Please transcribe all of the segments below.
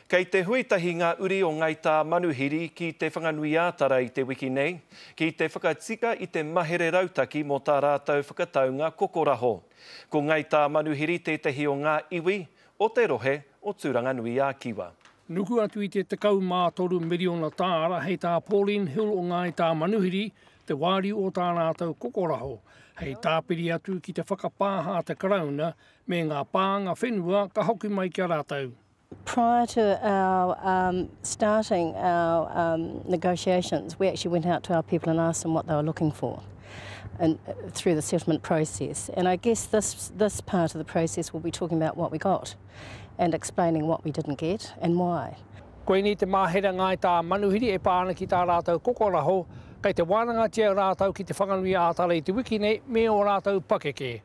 Kei te hui tahi ngā uri o Ngāi Tāmanuhiri ki Te Whanganui-ā-Tara i te wiki nei, ki te whakatika i te mahere rautaki mō tā rātou whakataunga kokoraho. Ko Ngāi Tāmanuhiri tētahi o ngā iwi o te rohe o Tūranganui-ā-Kiwa. Nuku atu i te 13 miriona tāra hei tā Pauline Hill o Ngāi Tāmanuhiri te wāriu o tā rātou kokoraho, hei tāpiri atu ki te whakapāha a te Karauna me ngā pānga whenua ka hoki mai ki a rātou. Prior to our um, starting our um, negotiations, we actually went out to our people and asked them what they were looking for and, uh, through the settlement process. And I guess this, this part of the process will be talking about what we got and explaining what we didn't get and why. Koinei te māhere ngāi tā Manuhiri e pā ana ki tā rātou kokoraho, kei te wānangatia rātou ki Te Whanganui ā Tara i te wiki nei me ō rātou pakeke.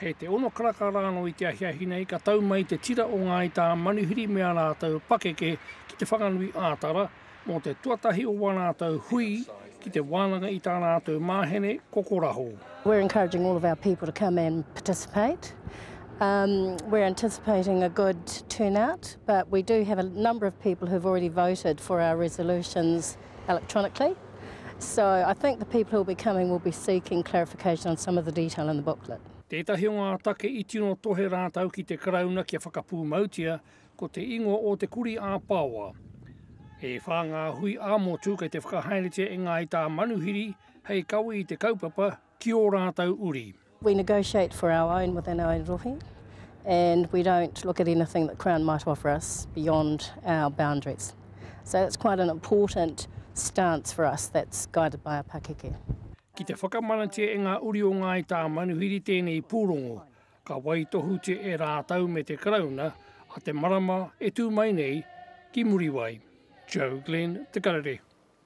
Kei te ono karaka rānō i te ahiahi nei ka tau mai te tira o Ngāi Tā Manuhiri me ā rātou pakeke ki Te Whanganui ā-Tara mō te tuatahi o wā rātou hui ki te wānanga i tā rātou māhene kokoraho. We're encouraging all of our people to come and participate. Um, we're anticipating a good turnout, but we do have a number of people who've already voted for our resolutions electronically. So I think the people who will be coming will be seeking clarification on some of the detail in the booklet. Tētahi o ngā take i tino tohe rātou ki te Karauna kia whakapūmautia ko te ingoa o Te Kuri ā Paoa. E whā ngā hui ā-motu kei te whakahaeretia e Ngāi Tāmanuhiri hei kawe i te kaupapa ki ō rātou uri. We negotiate for our own within our own rohe and we don't look at anything that Crown might offer us beyond our boundaries. So that's quite an important stance for us that's guided by our pakeke. Ki te whakamanatia e ngā uri o Ngāi Tāmanuhiri tēnei pūrongo, ka waitohutia e rātou me te Karauna a te marama e tū mai nei ki Muriwai. Joe Glenn, Te Karere.